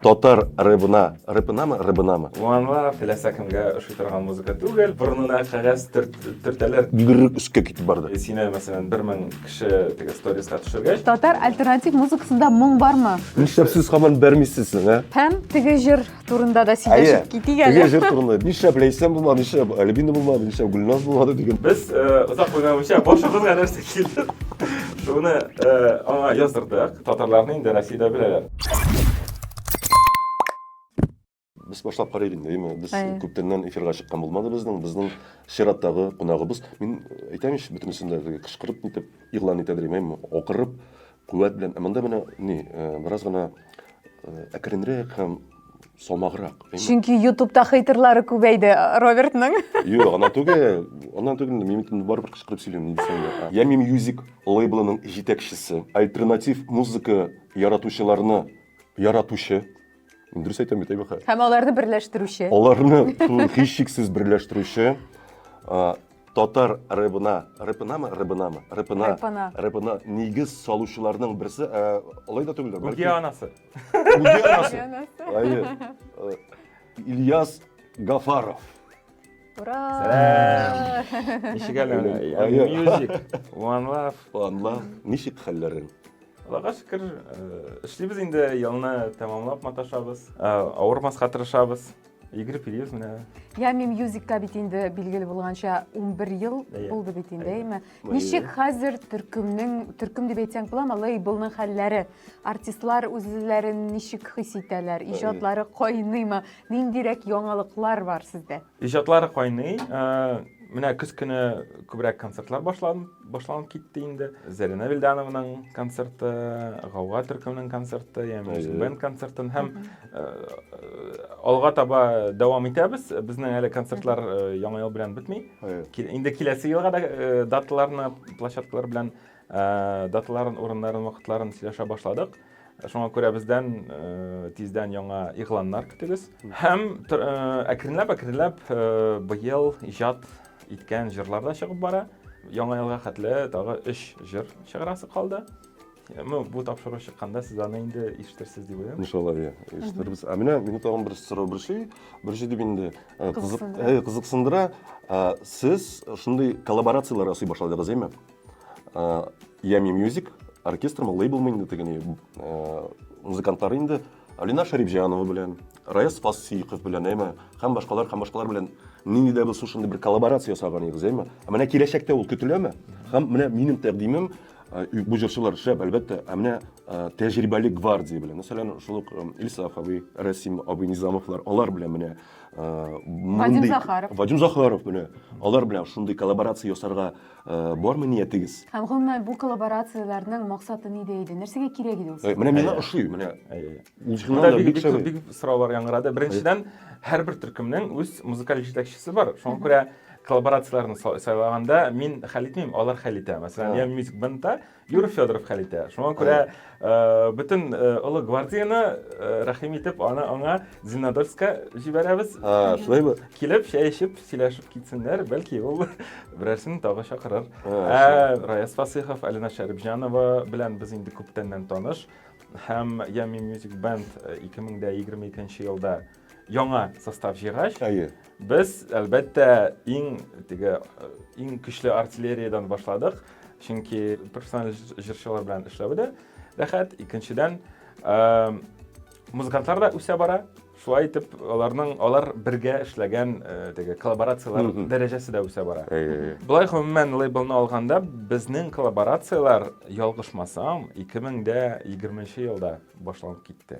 Татар рэбына, рэпынамы, рыбынамы? Муанла теләсә кемгә ошый торган музыка түгел, борынына кәгазь төртәләр. Гөррек өскә китеп барды. Э, сине, мәсәлән, бер мең кеше теге сториска төшергәч. Татар альтернатив музыкасында моң бармы? Нишләп сез һаман бәрмисез соң, ә? Һәм теге җыр турында да сөйләшеп китик әле. Теге җыр турында. Нишләп Ләйсән булмады, нишләп Альбина булмады, нишләп Гөлназ булмады дигән. Без э, озак уйламыйча башыбызга нәрсә килде? Шуны э, аңа яздырдык. Татарларны инде Россиядә беләләр. Без башлап карыйк инде, әйме? Без Әйе. күптәннән эфирга чыккан булмады безнең, безнең чираттагы кунагыбыз. Мин әйтәм ич, бөтенесен дә теге кычкырып нитеп, игълан итә дим, әйме? Акырып, куәт белән. Ә монда менә ни, э, бераз гына э, әкренрәк һәм самаграк. Чөнки ютубта хейтерлары күбәйде Робертның. Юк, ана түгел. Ана түгел, мин инде барыбер кычкырып сөйлим, ни дисәң дә. Я мим мьюзик лейблының җитәкчесе, альтернатив музыка яратучыларны яратучы. Мин дөрес әйтәм бит, әйбәхә. Һәм аларны берләштерүче. Аларны һичшиксез берләштерүче татар рэбына, рэпынамы, рэбынамы, рэпына, рэпына нигез салучыларның берсе, алай да түгел. Гүргә анасы. Уянасы. Әйе. Ильяс Гафаров. Ура! Ничек әле? Music, One Love. One Love. Ничек хәлләрең? Аллага шөкер, эшлибез инде, елны тәмамлап маташабыз. Авырмаска тырышабыз. Игорь Периев менә. Я мин мюзикка бит инде билгеле булганча 11 ел булды бит инде, әйме? Ничек хәзер төркемнең, төркем дип әйтсәң буламы, лейблның хәлләре? Артистлар үзләрен ничек хис итәләр? Иҗатлары кайныймы? Ниндирәк яңалыклар бар сездә? Иҗатлары кайный. Э, менә көз көне күбрәк концертлар башланып, башланып китте инде. Зәринә Вилдановның концерты, Гауга төркемнең концерты, яме бенд концертын һәм алга таба дәвам итәбез безнең әле концертлар яңа ел белән бетми инде киләсе елга да даталарны площадкалар белән даталарын урыннарын вакытларын сөйләшә башладык шуңа күрә бездән тиздән яңа игъланнар көтегез һәм әкренләп әкренләп быел иҗат иткән җырлар да чыгып бара яңа елга хәтле тагы өч җыр чыгарасы калды Ну, бу тапшыру чыкканда сез аны инде ишетерсез дип уйлыйм. Иншалла, иә, ишетербез. Ә менә мине тагын бер сорау бер шей, бер шей дип инде э, кызык, Кызыксындыра. э, кызыксындыра. Ә, Сез шундый коллаборацияләр ясый башладыгыз, әйме? Ями Music оркестрмы, лейблмы инде теге ни, э, музыкантлары инде Алина Шәрипҗанова белән, Раяз Фасыйков белән, әйме, һәм башкалар, һәм башкалар белән нинди дә булса шундый бер коллаборация ясаган идегез, әйме? Ә менә киләчәктә ул көтеләме? Һәм менә минем тәкъдимем э, бу җырчылар шәп, әлбәттә, ә менә э, тәҗрибәле гвардия белән, мәсәлән, шул ук э, Ильсаф абый, Расим абый Низамовлар, алар белән менә Вадим Захаров. Вадим Захаров менә алар белән шундый коллаборация ясарга Бармы ниятегез? Һәм гомумән бу коллаборацияләрнең максаты нидә иде? Нәрсәгә кирәк иде ул сезгә? Менә миңа ошый, менә ул җырлар да бик шәп. Бик сораулар яңгырады. Беренчедән, һәрбер төркемнең үз музыкаль җитәкчесе бар. Шуңа күрә коллаборацияләрне сайлаганда мин хәл итмим, алар хәл итә. Мәсәлән, я Music Band-та Юр Федоров хәл итә. Шуңа күрә э, бөтен э, олы гвардияне э, рәхим итеп аны аңа Зиннодольска җибәрәбез. А, шулаймы? Килеп, чәй эчеп, сөйләшеп китсеннәр, бәлки ул берәрсен тагы чакырыр. Ә Раяз Фасыйхов, Алина Шәрипҗанова белән без инде күптәннән таныш һәм Ями Music Band 2022 елда яңа состав җыйгач, без, әлбәттә, иң теге иң көчле артиллериядән башладык, чөнки профессиональ җырчылар белән эшләве дә рәхәт. Икенчедән, музыкантлар да үсә бара. Шулай итеп, аларның алар бергә эшләгән теге коллаборацияләр дәрәҗәсе дә үсә бара. Болай гомумән лейблны алганда, безнең коллаборацияләр, ялгышмасам, 2020 елда башланып китте.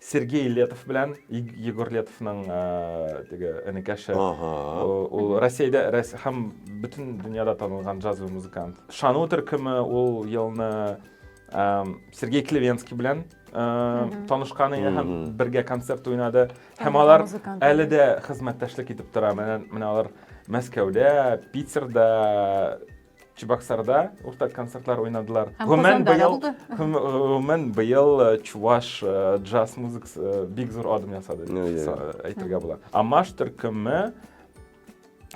Сергей Летов белән Егор Летовның теге энекәше. Ул Россиядә һәм бөтен дөньяда танылган джазовый музыкант. Шану төркеме ул елны Сергей Клевенский белән танышкан иде һәм бергә концерт уйнады. Һәм алар әле дә хезмәттәшлек итеп тора. Менә алар Мәскәүдә, Питерда Чебоксарда уртак концертлар уйнадылар. Гомумән быел гомумән быел э, чуваш э, джаз музыкасы э, бик зур адым ясады дип әйтергә була. Амаш төркеме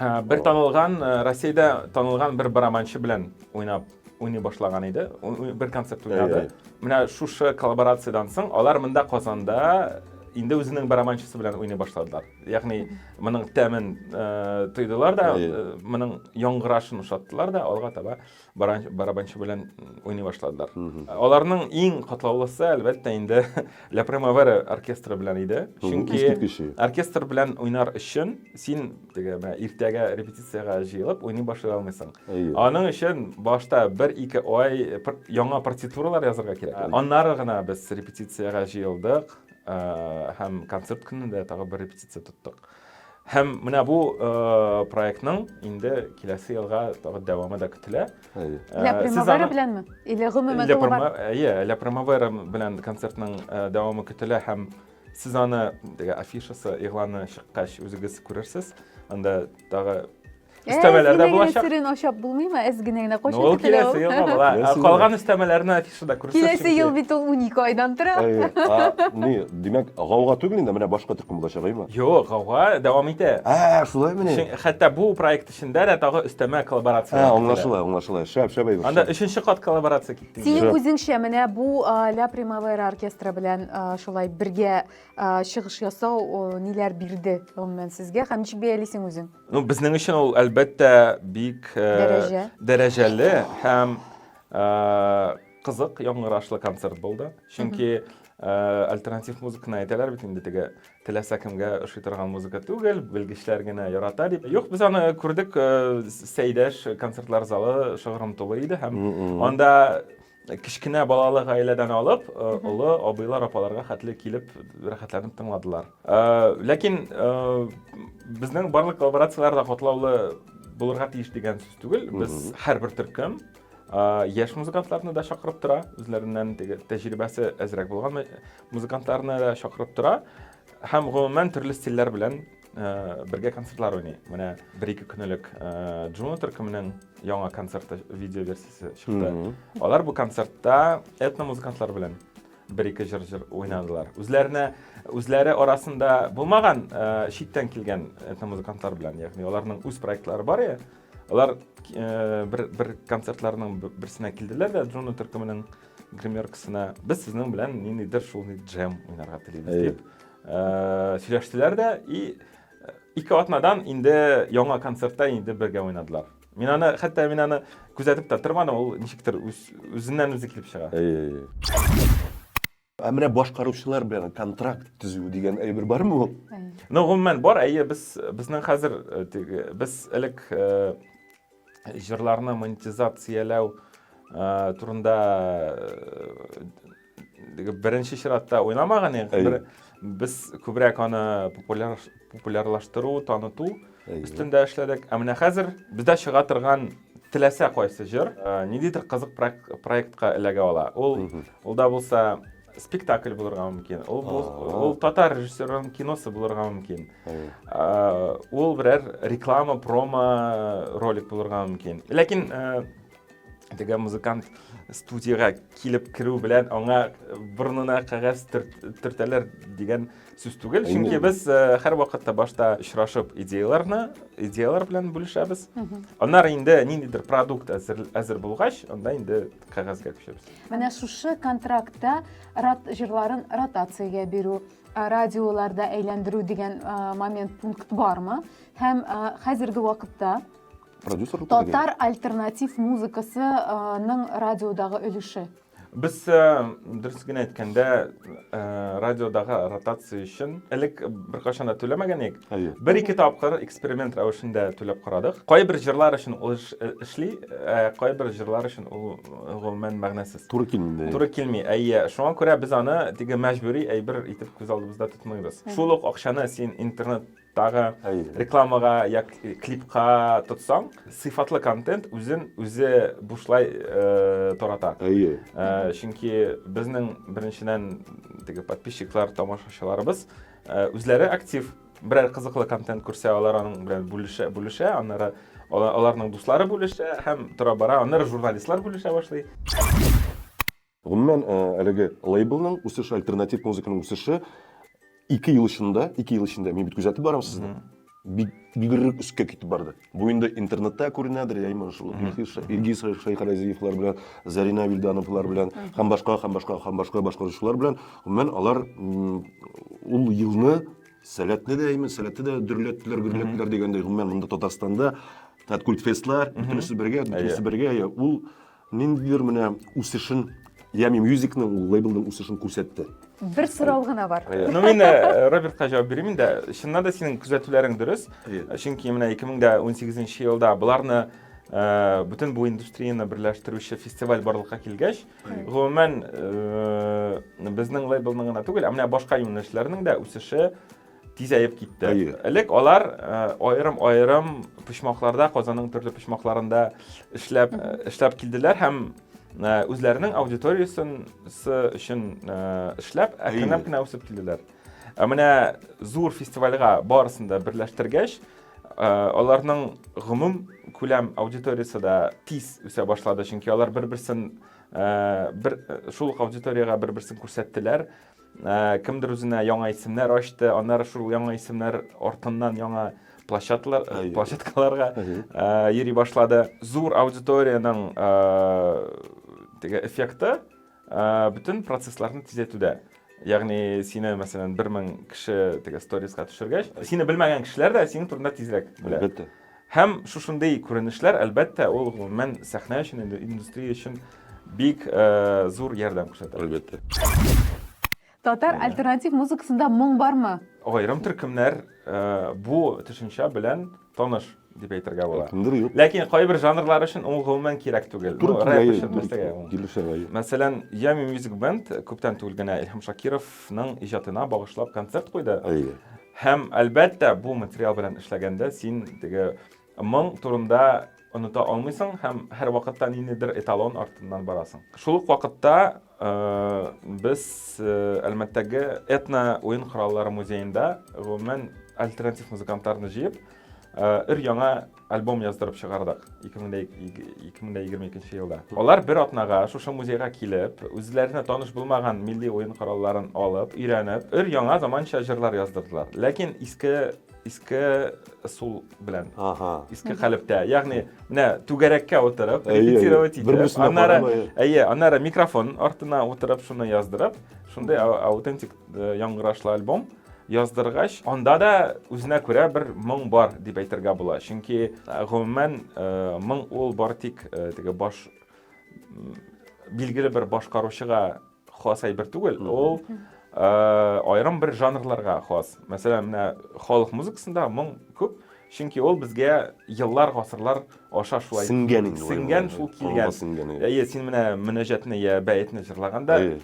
бер танылган Россиядә танылган бер барабанчы белән уйнап уйный башлаган иде. Бер концерт уйнады. Менә шушы коллаборациядән соң алар монда Казанда инде үзенең барабанчысы белән уйный башладылар. Ягъни моның тәмен э, тойдылар да, э, моның яңгырашын ошаттылар да, алга таба барабанчы белән уйный башладылар. Аларның иң катлаулысы, әлбәттә, инде La Primavera оркестры белән иде. Чөнки оркестр белән уйнар өчен син теге менә иртәгә репетициягә җыелып уйный башлый алмыйсың. Аның өчен башта 1-2 ай яңа партитуралар язарга кирәк. Аннары гына без репетициягә җыелдык. һәм концерт көнендә тагы бер репетиция тоттык һәм менә бу проектның инде киләсе елга тагы дәвамы да көтелә ля примавера беләнме или гомумән иә ля примавера белән концертның дәвамы көтелә һәм сез аны теге афишасы игъланы чыккач үзегез күрерсез анда тагы Өстәмәләр дә булачак. Серен ашап булмыймы? Әз генә генә кушып Ул киләсе елга була. Калган өстәмәләрне афишада күрсәтсен. Киләсе ел бит ул 12 айдан тора. Ни, димәк, гауга түгел инде, менә башка төркем булачак, әйме? Юк, гауга дәвам итә. Ә, шулай менә. Хәтта бу проект эчендә дә тагы өстәмә коллаборация. Ә, аңлашыла, аңлашыла. Шәп, шәп әйбер. Анда өченче кат коллаборация китте. Синең үзеңчә менә бу Ля Примавера оркестры белән шулай бергә чыгыш ясау ниләр бирде, гомумән, сезгә һәм ничек бәялисең үзең? Ну, безнең өчен ул әлбәттә бик э, дәрәҗәле һәм э, кызык яңгырашлы концерт булды. Чөнки Э, альтернатив музыканы әйтәләр бит инде теге теләсә кемгә ошый торган музыка түгел белгечләр генә ярата дип юк без аны күрдек э, сәйдәш концертлар залы шыгрым тулы иде һәм анда Кечкенә балалы гаиләдән алып, э, олы абыйлар, апаларга хәтле килеп рәхәтләнеп тыңладылар. Э, ләкин э, безнең барлык коллаборацияләр дә катлаулы булырга тиеш дигән сүз түгел. Без һәрбер төркем яшь музыкантларны да чакырып тора, үзләреннән теге тәҗрибәсе әзрәк булган музыкантларны да чакырып тора һәм гомумән төрле стильләр белән Э, бергә концертлар уйный менә бер ике көн элек э, джуна төркеменең яңа концерты видео версиясе чыкты алар бу концертта этно музыкантлар белән бер ике җыр җыр уйнадылар үзләренә үзләре арасында булмаган э, читтән килгән этно музыкантлар белән ягъни аларның үз проектлары бар иә алар бер бер концертларның берсенә килделәр дә джуна төркеменең гримеркасына без сезнең белән ниндидер шул джем уйнарга телибез дип Э, сөйләштеләр дә и э, ике атнадан инде яңа концертта инде бергә уйнадылар мин аны хәтта мин аны күзәтеп тә тормадым ул ничектер үзеннән үзе килеп чыга ә менә башкаручылар белән контракт төзү дигән әйбер бармы ул ну гомумән бар әйе без безнең хәзер э, без элек җырларны монетизацияләү э, турында э, беренче чиратта уйламаган идек. Без күбрәк аны популярлаштыру, таныту өстендә эшләдек. Ә менә хәзер бездә чыга торган теләсә кайсы җыр, э, ниндидер кызык проектка эләгә ала. Ул, ул да булса спектакль булырга мөмкин ул ул татар режиссерының киносы булырга мөмкин ул берәр реклама промо ролик булырга мөмкин ләкин теге музыкант студияга килеп керү белән аңа борынына кәгазь төртәләр дигән сүз түгел чөнки без һәрвакытта башта очрашып идеяларны идеялар белән бүлешәбез аннары инде ниндидер продукт әзер әзер булгач анда инде кәгазьгә күчәбез менә шушы контрактта рат җырларын ротациягә бирү радиоларда әйләндерү дигән момент пункт бармы һәм хәзерге вакытта продюсер татар альтернатив музыкасының радиодагы өлеше Без дөрес генә әйткәндә радиодагы ротация өчен элек беркайчан да түләмәгән идек Әйе. Бер-ике тапкыр эксперимент рәвешендә түләп карадык. Кайбер җырлар өчен ул э, эшли, ә кайбер җырлар өчен ул э, гомумән мәгънәсез. Туры килми. Туры килми. Әйе, шуңа күрә без аны теге мәҗбүри әйбер итеп күз алдыбызда тотмыйбыз. Шул ук акчаны син интернет тагы рекламага я клипка тотсаң сыйфатлы контент үзен үзе бушлай э, тарата әйе э, чөнки безнең беренчедән теге подписчиклар тамашачыларыбыз Э, үзләре актив берәр кызыклы контент күрсә алар аның белән бүлешә бүлешә аннары аларның дуслары бүлешә һәм тора бара аннары журналистлар бүлешә башлый гомумән э, әлеге лейблның үсеше альтернатив музыканың үсеше ике ел эчендә ике ел эчендә мин бит күзәтеп барам сезне бик бигерәк өскә китеп барды. Бу инде интернетта күренәдер, яимы шул Илгиз Шәйхаразиевлар белән, Зарина Вильдановлар белән һәм башка һәм башка һәм башка башкаручылар белән, гомумән, алар ул елны сәләтне дә, яимы сәләтне дә дөрләттеләр, гөрләттеләр дигәндәй, гомумән, монда Татарстанда Таткультфестлар, бөтенесе бергә, бөтенесе бергә, ул Ниндидер менә үсешен, Yummy Music-ның ул лейблның үсешен күрсәтте. Бер сорау гына бар. Ну, мин э, Робертка җавап бирим инде. Чыннан да синең күзәтүләрең дөрес. Чөнки менә 2018 елда боларны э, бөтен бу индустрияне берләштерүче фестиваль барлыкка килгәч, гомумән э, безнең лейблның гына түгел, ә менә башка юнәлешләрнең дә үсеше тизәеп китте. Әйе. Элек алар аерым-аерым э, почмакларда, Казанның төрле почмакларында эшләп э, эшләп килделәр һәм э, үзләренең аудиториясен өчен эшләп, әкренләп кенә үсеп килделәр. Ә менә зур фестивальгә барысын да берләштергәч, аларның гомум күләм аудиториясе дә тиз үсә башлады, чөнки алар бер-берсен бер шул аудиторияга бер-берсен күрсәттеләр. Ә, кемдер үзенә яңа исемнәр ачты, аннары шул яңа исемнәр артыннан яңа площадкалар, э, площадкаларга ә, йөри башлады. Зур аудиториянең ә, теге эффекты ә, бөтен процессларны тизәйтүдә. Ягъни сине, мәсәлән, 1000 кеше теге сториска төшергәч, сине белмәгән кешеләр дә синең турында тизрәк белә. Әлбәттә. Һәм шушындый күренешләр, әлбәттә, ул гомумән сәхнә өчен, индустрия өчен бик зур ярдәм күрсәтә. Әлбәттә. Татар альтернатив музыкасында моң бармы? Аерым төркемнәр бу төшенчә белән таныш дип әйтергә була. Кемдер юк. Ләкин кайбер жанрлар өчен ул гомумән кирәк түгел. Ну, рэп өчен нәрсәгә ул? Килешә гай. Мәсәлән, Yummy Music Band күптән түгел генә Илһам Шакировның иҗатына багышлап концерт куйды. Әйе. Һәм, әлбәттә, бу материал белән эшләгәндә син теге моң турында оныта алмыйсың һәм һәрвакытта ниндидер эталон артыннан барасың. Шул ук вакытта э, без э, Әлмәттәге этно уен кораллары музеенда гомумән альтернатив музыкантларны җыеп, э, өр-яңа альбом яздырып чыгардык 2022 елда. Алар бер атнага шушы музейга килеп, үзләренә таныш булмаган милли уен коралларын алып, өйрәнеп, өр яңа заманча җырлар яздырдылар. Ләкин иске иске сул белән. Ага. Иске хәлептә. Ягъни, менә түгәрәккә утырып, репетировать итеп, аннары, әйе, аннары микрофон артына утырып, шуны яздырып, шундый аутентик Э, яңгырашлы альбом яздыргач анда да үзенә күрә бер моң бар дип әйтергә була чөнки э, гомумән э, моң ул бар тик теге баш билгеле бер башкаручыга хас әйбер түгел ул аерым бер жанрларга хас мәсәлән менә халык музыкасында моң күп чөнки ул безгә еллар гасырлар аша шулай сеңгән инде сеңгән шул килгән әйе син менә мөнәҗәтне я бәетне җырлаганда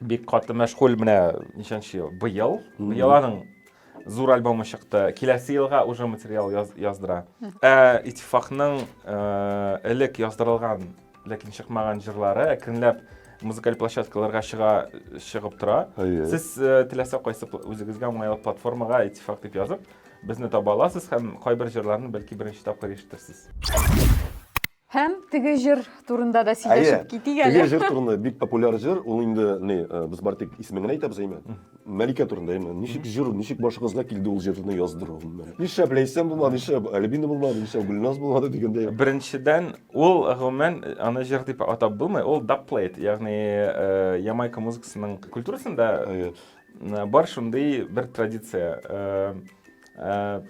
Бик каты мәшгуль менә ничәнче ел? Быел. Быел аның зур альбомы чыкты. Киләсе елга уже материал яз, яздыра. Ә Итифакның э, элек яздырылган, ләкин чыкмаган җырлары әкренләп музыкаль площадкаларга чыга чыгып тора. Әйе. Сез э, теләсә кайсы пл- үзегезгә уңайлы платформага Итифак дип язып, безне таба аласыз һәм кайбер җырларны бәлки беренче тапкыр ишетерсез. Һәм теге җыр турында да сөйләшеп китик әле. Теге җыр турында бик популяр җыр, ул инде ни, э, без бар тик исемен генә әйтәбез әйме? Мәликә турында әйме? Ничек җыр, ничек башыгызга килде ул җырны яздыру? Нишләп Ләйсән булмады, нишләп Альбина булмады, нишләп Гөлназ булмады дигәндәй. Беренчедән, ул гомумән аны җыр дип атап булмый, ул дабплейт, ягъни э, Ямайка музыкасының культурасында бар шундый бер традиция. Э,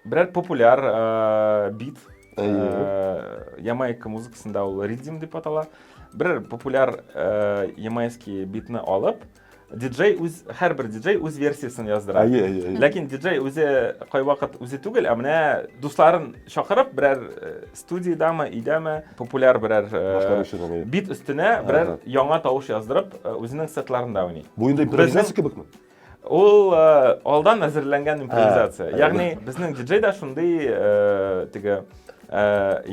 Берәр популяр э, бит. Э, Ямайка музыкасында ул ридим дип атала. Бер популяр э, ямайский битны алып, диджей үз һәрбер диджей үз версиясын яздыра. Әйе, әйе, әйе. Ләкин диджей үзе кайвакыт үзе түгел, ә менә дусларын чакырып берәр э, студиядәме, өйдәме популяр берәр э, бит өстенә берәр яңа тавыш яздырып, э, үзенең сетларында уйный. Бу инде импровизация кебекме? Ул э, алдан әзерләнгән импровизация. Ә, Ягъни безнең диджей да шундый э, теге э,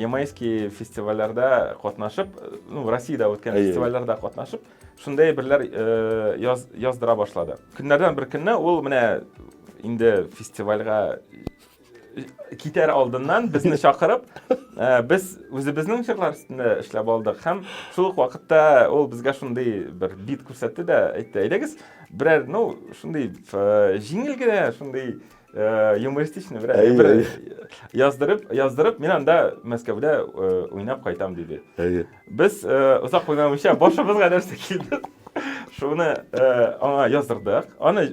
ямайский фестивальләрдә катнашып, ну, Россиядә үткән фестивальләрдә катнашып, шундый берләр яз, яздыра башлады. Көннәрдән бер көнне ул менә инде фестивальгә китәр алдыннан безне чакырып, э, без үзебезнең җырлар өстендә эшләп алдык һәм шул ук вакытта ул безгә шундый бер бит күрсәтте дә әйтте, әйдәгез, берәр, ну, шундый э, җиңел генә, шундый э, юмористичный берәр әйе, бер яздырып, яздырып, мин анда Мәскәүдә уйнап кайтам диде. Әйе. Без озак уйнамыйча башыбызга нәрсә килде, шуны аңа яздырдык. Аны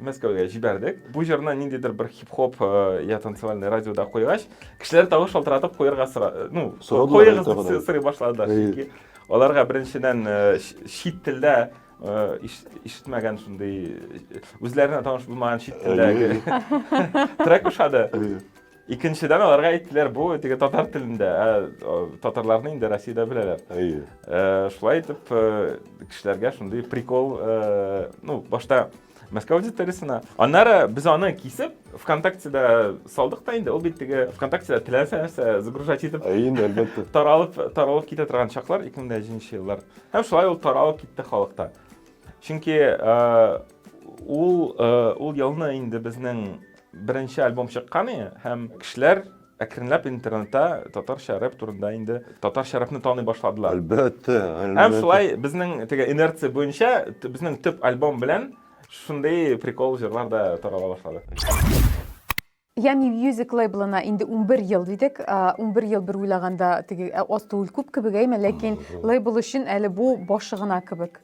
Мәскәүгә җибәрдек. Бу җырны ниндидер бер хип-хоп я танцевальный радиода куйгач, кешеләр тавыш шалтыратып куярга сора, ну, куегыз дип сорый башладылар. Чөнки аларга беренчедән чит телдә ишетмәгән шундый үзләренә таныш булмаган чит телдәге трек ошады. Икенчедән аларга әйттеләр, бу теге татар телендә, ә татарларны инде Россиядә беләләр. Әйе. Э, шулай итеп э, кешеләргә шундый прикол, э, ну, башта Мәскәү аудиториясенә. Аннары без аны кисеп, ВКонтактеда салдык та инде, ул бит теге ВКонтактеда теләсә нәрсә загружать итеп. Әйе, әлбәттә. Таралып, таралып китә торган чаклар 2001 еллар. Һәм шулай ул таралып китте халыкта. Чөнки ул ул елны инде безнең Беренче альбом чыккан и, һәм кешеләр әкренләп интернетта татарча рэп турында инде татарча рэпны таный башладылар. Әлбәттә, әлбәттә. Һәм шулай безнең теге инерция буенча безнең төп альбом белән шундый прикол җырлар да тарала башлады. Yummy Music лейблына инде 11 ел дидек. 11 ел бер уйлаганда теге аз түгел күп кебек әйме, ләкин лейбл өчен әле бу башы гына кебек.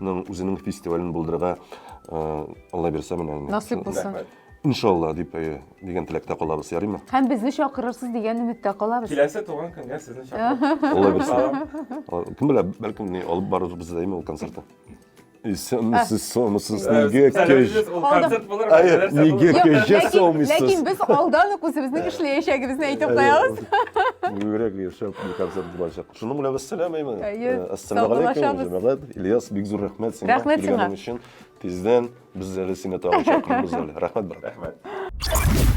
ның үзенең фестивален булдырырга алла бирсә менә насыйп булсын иншалла дип дигән теләктә калабыз ярыймы һәм безне чакырырсыз дигән өметтә калабыз киләсе туган көнгә сезне чакырабыз алла бирсә кем белә бәлкем ни алып барырбыз да ул концертны Сомсыз, сомсыз, неге кеш. Концерт булыр. Неге кеше сомсыз. Ләкин без алдан ук үзебезнең эшләячәгебезне әйтеп куябыз. Юрәк яшәп концерт булачак. Шуның белән без сәламәйме? Әйе. Э, Ассаламу алейкум, Саубуллашабыз. җәмәгать. Ильяс, бик зур рәхмәт сиңа Рәхмәт сиңа. килгәнең өчен. Тиздән без әле сине тагын чакырырбыз әле. Рәхмәт, брат. Рәхмәт.